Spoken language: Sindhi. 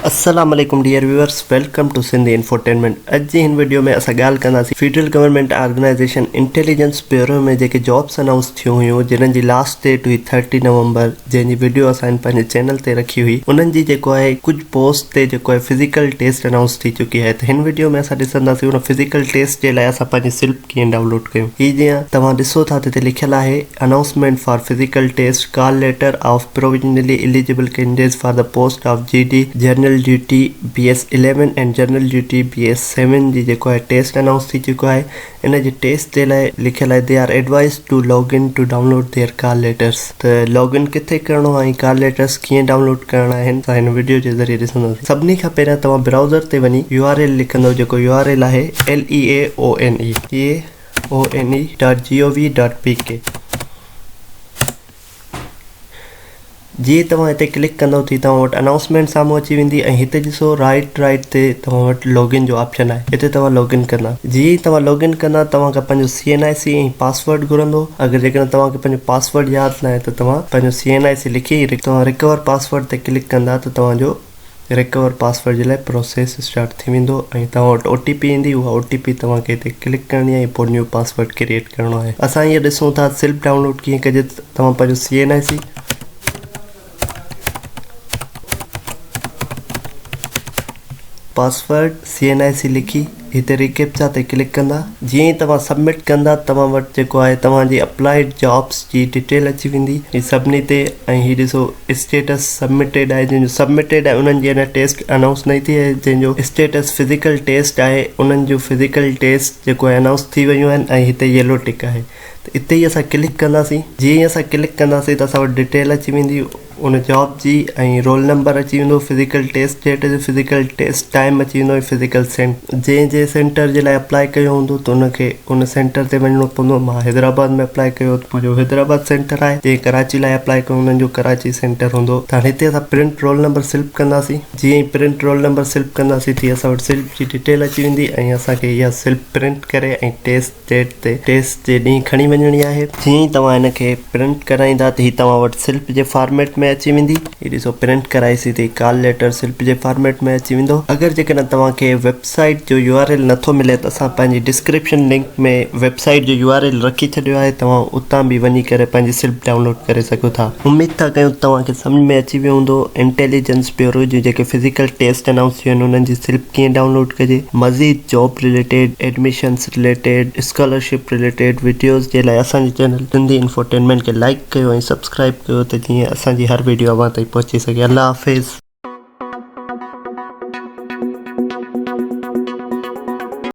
السلام عليڪم dear viewers welcome to Sindh infotainment اڄ جي هن وڊيو ۾ اسان ڳالهه ڪنداسين federal government organisation intelligence bureau ۾ جيڪي جابس انائونس ٿيون هيون جنهن جي لاسٽ ڊيٽ هئي ٿرٽي نومبر جنهن جي وڊيو اسان هن پنهنجي چينل تي رکي هئي انهن جي جيڪو آهي ڪجهه پوسٽ تي جيڪو آهي فزيڪل ٽيسٽ انائونس ٿي چڪي آهي ته هن وڊيو ۾ اسان ڏسنداسين ان فزيڪل ٽيسٽ جي لاء اسان پنهنجي سلپ ڪيئن ڊائونلوڊ ڪيون هي جيئن توهان ڏسو ٿا ته هتي لکيل آهي Announcement for Physical Test Call Letter of Provisionally Eligible Candidates for the Post of GD General Duty BS eleven ۽ general duty B S seven جي جيڪو آهي ٽيسٽ انائونس ٿي چڪو آهي ان جي ٽيسٽ جي لاء لکيل آهي they are advised to log in to download their call letters ته لاگ ان ڪٿي ڪرڻو آهي ۽ ڪال ليٽرس ڪيئن ڊائونلوڊ ڪرڻا آهن سا هن وڊيو جي ذريعي ڏسنداسين سڀني کان پهريان توهان برائوزر تي وڃي يو آر ايل لکندو جيڪو يو آر ايل آهي LEAONE هي one.gov.pk جي ئي توهان هتي ڪلڪ ڪندو تي توهان وٽ انائونسمينٽ سامهون اچي ويندي ۽ هتي ڏسو رائٽ رائٽ تي توهان وٽ لوگ ان جو آپشن آهي هتي توهان لوگ ان ڪندا جي ئي توهان لوگ ان ڪندا توهان کان پنهنجو CNIC ۽ پاسورڊ گهرندو اگر جيڪڏهن توهان کي پنهنجو پاسورڊ ياد ناهي ته توهان پنهنجو CNIC لکي توهان رڪور پاسورڊ تي ڪلڪ ڪندا ته توهان جو ريڪور پاسورڊ جي لاء پروسيس اسٽارٽ ٿي ويندو ۽ توهان وٽ او ٽي پي ايندي اها او ٽي پي توهان کي هتي ڪلڪ ڪرڻي آهي ۽ پوء نيو پاسورڊ ڪريئيٽ ڪرڻو آهي اسان هينئر ڏسون ٿا سلپ ڊائونلوڊ ڪيئن ڪجي توهان پنهنجو C N I C password C N I C لکي هتي ريڪيپچا تي ڪلڪ ڪندا. جيئن ئي توهان سبمٽ ڪندا توهان وٽ جيڪو آهي توهان جي اپلائيڊ جابس جي ڊيٽيل اچي ويندي هي سڀني تي ۽ هي ڏسو اسٽيٽس سبمٽيڊ آهي جنهن جو سبمٽيڊ آهي انهن جي اڃا ٽيسٽ انائونس ناهي ٿي ۽ جنهن جو اسٽيٽس فزيڪل ٽيسٽ آهي انهن جون فزيڪل ٽيسٽ جيڪو آهي انائونس ٿي ويون آهن ۽ هتي يلو ٽڪ آهي ته اتي ئي اسان ڪلڪ ڪنداسين جيئن ئي اسان ڪلڪ ڪنداسين ته اسان وٽ ڊيٽيل اچي ويندي. ان جاب جي ۽ رول نمبر اچي ويندو فزيڪل ٽيسٽ ڊيٽ جو فزيڪل ٽيسٽ ٽائيم اچي ويندو ۽ فزيڪل سينٽر جنهن جنهن سينٽر جي لاء اپلائي ڪيو هوندو ته ان کي ان سينٽر تي وڃڻو پوندو مان حيدرآباد ۾ اپلائي ڪيو ته منهنجو حيدرآباد سينٽر آهي جنهن ڪراچي لاء اپلائي ڪيو انهن جو ڪراچي سينٽر هوندو ته هاڻي هتي اسان پرنٽ رول نمبر سلپ ڪنداسين جيئن ئي پرنٽ رول نمبر سلپ ڪنداسين تيئن اسان وٽ سلپ جي ڊيٽيل اچي ويندي ۽ اسان کي اها سلپ پرنٽ ڪري ۽ ٽيسٽ ڊيٽ تي ٽيسٽ جي ڏينهن کڻي وڃڻي آهي جيئن ئي توهان هن کي پرنٽ ڪرائيندا ته هي توهان وٽ سلپ جي فارميٽ ۾ اچي ويندي هي ڏسو پرنٽ ڪرائي سڌي ڪال ليٽر سلپ جي فارميٽ ۾ اچي ويندو اگر جيڪڏهن توهان کي ويب سائيٽ جو يو آر ايل نٿو ملي ته اسان پنهنجي ڊسڪرپشن لنڪ ۾ ويب سائيٽ جو يو آر ايل رکي ڇڏيو آهي توهان اتان به وڃي ڪري پنهنجي سلپ ڊائونلوڊ ڪري سگهو ٿا اميد ٿا ڪيون ته توهان کي سمجهه ۾ اچي ويو هوندو انٽيليجنس بيورو جون جيڪي فزيڪل ٽيسٽ انائونس ٿيون آهن انهن جي سلپ ڪيئن ڊائونلوڊ ڪجي مزيد job related admissions related scholarship related videos جي لاء اسان جي چينل سنڌي انفوٽينمينٽ کي لائيڪ ڪيو ۽ سبسڪرائيب ڪيو ته جيئن اسان جي هر وڊيو اوهان تائين پهچي سگهي الله حافظ.